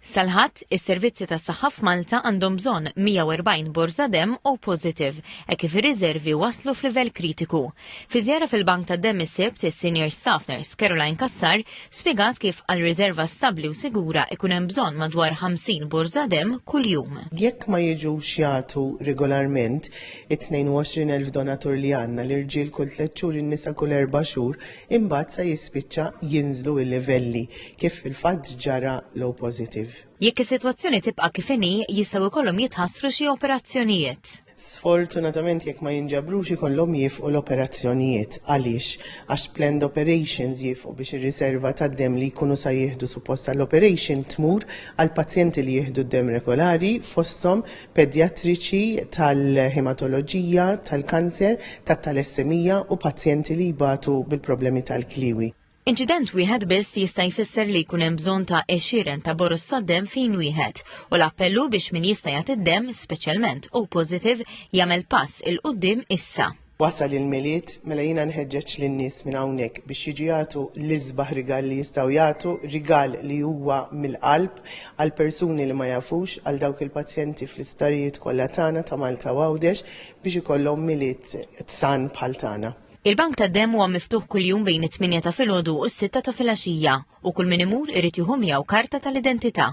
Sal-Ħadd, is-servizzi tas-saħħa f'Malta għandhom bżonn 140 borża demm O positive, hekk kif ir-riżervi waslu f'livell kritiku. Fi żjara fil-bank tad-demm is-Sibt, is-Senior Staff Nurse Caroline Cassar spjegat kif għal riżerva stabbli u sigura ikun hemm bżonn madwar 50 borża demm kuljum. Jekk ma jiġux jagħtu regolarment, it-22 elf donatur li għandna, l-irġiel kull tliet xhur in-nisa kull erba' xhur, imbagħad sa jispiċċa jinżlu l-livelli. kif fil-fatt ġara l-O positive. Jekk is-sitwazzjoni tibqa' kif inhi, jistgħu jkollhom jitħassru xi operazzjonijiet. Sfortunatament jekk ma jinġabrux ikollhom jiefqu l-operazzjonijiet. Għaliex? Għax planned operations jiefqu biex ir-riserva tad-demm li jkunu sa jieħdu suppost għall-operation tmur għal pazjenti li jieħdu d-demm regolari fosthom pedjatriċi tal-hematoloġija, tal-kanser, tat-talassemija u pazjenti li jbatu bil-problemi tal-kliewi. Inċident wieħed biss jista' jfisser li jkun hemm bżonn ta' għexieren ta' boroż tad-demm f'ħin wieħed, u l-appell hu biex min jista' jagħti d-demm, speċjalment O positive, jagħmel pass 'il quddiem issa. Wasal il-Milied, mela jiena nħeġġeġ lin-nies minn hawnhekk biex jiġu jagħtu l-isbaħ rigal li jistgħu jagħtu, rigal li huwa mill-qalb, għall-persuni li ma jafux, għal dawk il-pazjenti fl-isptarijiet kollha tagħna ta' Malta u Għawdex biex ikollhom Milied san bħal tagħna. Il-bank tad-demm huwa miftuħ kuljum bejn it-tmienja ta' filgħodu u s-sitta ta' filgħaxija u kull min imur irid jieħu miegħu karta tal-identità.